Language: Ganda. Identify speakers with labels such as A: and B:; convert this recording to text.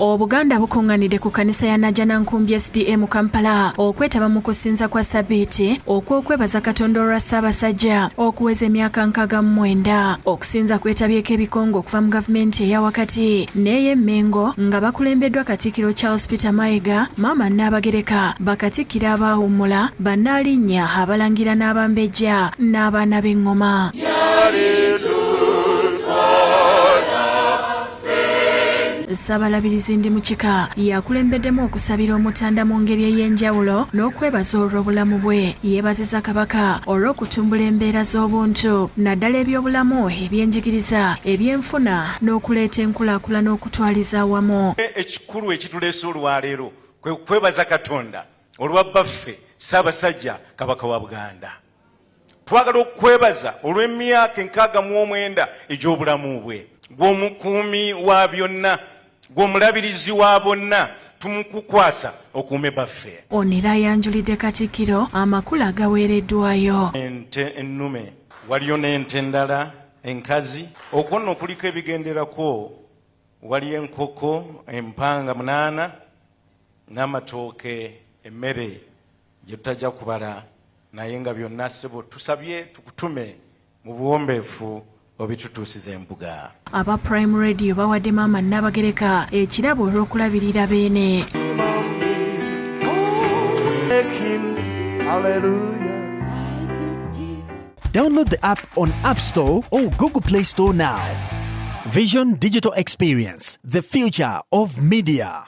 A: Obuganda bukunganidde ku kanisa ya Najana Nkumbi SDA mu Kampala okwetaba mu kusinza kwa sabiiti okw'okwebaza Katonda olwa Ssaabasajja okuweza emyaka nkaaga mu mwenda. Okusinza kwetabyeko ebikongo okuva mu gavumenti eya wakati n'ey'Emmengo nga bakulembeddwa Katikkiro Charles Peter Mayiga, Maama Nnaabagereka, Bakatikkiro abaawummula, Bannaalinnya, Abalangira n'Abambejja n'abaana b'eng'oma. Ssabalabirizi ndi mu kika yakulembeddemu okusabira omutanda mu ngeri ey'enjawulo n'okwebaza olw'obulamu bwe. Yeebaziza Kabaka olw'okutumbula embeera z'obuntu naddala eby'obulamu, eby'enjigiriza, eby'enfuna n'okuleeta enkulaakulana okutwaliza awamu. Ekikulu ekituleese
B: olwaleero kwe kwebaza Katonda olwa bbaffe Ssaabasajja Kabaka wa Buganda. twagala okukwebaza olw'emyaka enkaaga mu omwenda egy'obulamu bwe gw'omukuumi wa byonna gw'omulabirizi wa bonna tumukukwasa okuume baffe ono era ayanjulidde
A: katikkiro amakulu agaweereddwayo ente
B: ennume waliyo n'ente endala enkazi okwo nno kuliko ebigenderako wali enkoko empanga munaana n'amatooke emmere gye tutajja kubala naye nga byonna ssebo tusabye tukutume mu buwombeefu obitutuusiza embuga aba prime
A: radio bawadde maama nnabagereka ekirabo olw'okulabirira beene
C: Download the app on App Store or Google Play Store now. Vision Digital Experience, the future of media.